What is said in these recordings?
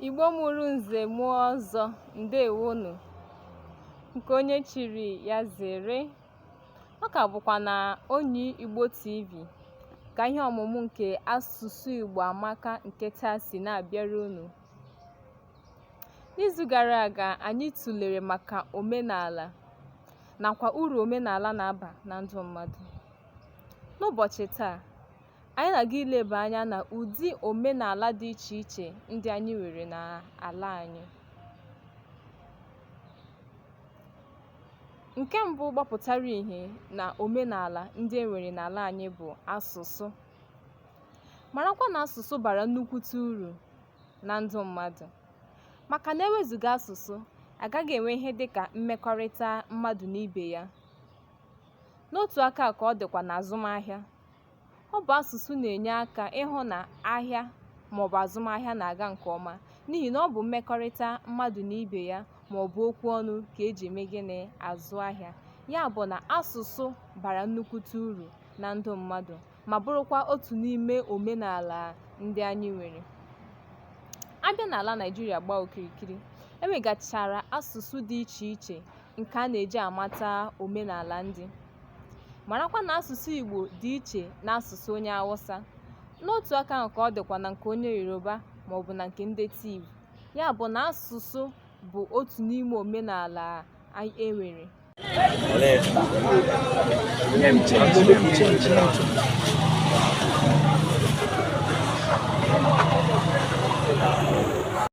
Igbo mụrụ nze mụọ ọzọ ndewonu nke onye chiri ya zere ọ ka bụkwa na onyi Igbo TV ka ihe ọmụmụ nke asụsụ Igbo amaka nke taa si na-abịara unu n'izu gara aga anyị tụlere maka omenala nakwa uru omenala na-aba na ndụ mmadụ n'ụbọchị taa anyị na-aga ileba anya na ụdị omenala dị iche iche ndị anyị nwere n'ala anyị nke mbụ gbapụtara ihe na omenala ndị e nwere n'ala anyị bụ asụsụ marakwa na asụsụ bara nnukwute uru na ndụ mmadụ maka na ewezuga asụsụ agaghị enwe ihe dị ka mmekọrịta mmadụ na ibe ya n'otu aka ka ọ dịkwa n'azụmahịa Ọ bụ asụsụ na-enye aka ịhụ na ahịa maọbụ azụmahịa na-aga nke ọma n'ihi na ọ bụ mmekọrịta mmadụ na ibe ya maọbụ okwu ọnụ ka eji eme gịnị azụ ahịa. Ya bụ na asụsụ bara nnukwute uru na ndụ mmadụ ma bụrụkwa otu n'ime omenala ndị anyị nwere. A bịa n'ala Naịjirịa gbaa okirikiri, e nwegachara asụsụ dị iche iche nke a na-eji amata omenala ndị. marakwa na asụsụ Igbo dị iche n'asụsụ onye Awụsa n'otu aka ahụ ka ọ dịkwa na nke onye Yoruba maọbụ na nke ndị Tiv ya bụ na asụsụ bụ otu n'ime omenala e nwere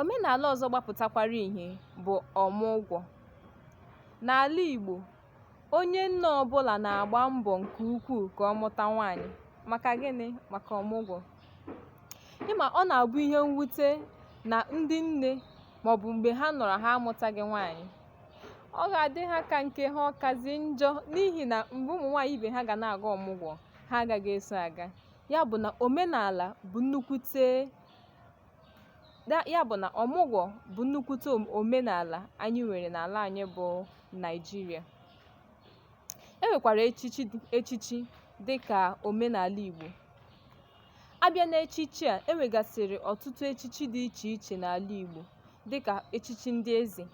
Omenala ọzọ gbapụtakwara ihe bụ ọmụgwọ. N'ala Igbo, onye nne ọbụla na-agba mbọ nke ukwuu ka ọ mụta nwaanyị. Maka gịnị? Maka ọmụgwọ. Ị ma ọ na-abụ ihe mwute na ndị nne maọbụ mgbe ha nọrọ ha amụtaghị nwaanyị. Ọ ga-adị ha ka nke ha ọ kazi njọ n'ihi na mgbe ụmụ nwaanyị ibe ha ga na-aga ọmụgwọ, ha agaghị eso aga. ya bụ na omenala bụ nnukwute ya bụ na ọmụgwọ bụ nnukwute omenala anyị nwere n'ala anyị bụ Naịjirịa e nwekwara echichi dị ka omenala Igbo a bịa n'echichi a e nwegasịrị ọtụtụ echichi dị iche iche n'ala Igbo dị ka echichi ndị eze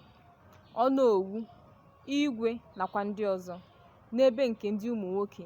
onowu igwe nakwa ndị ọzọ n'ebe nke ndị ụmụ nwoke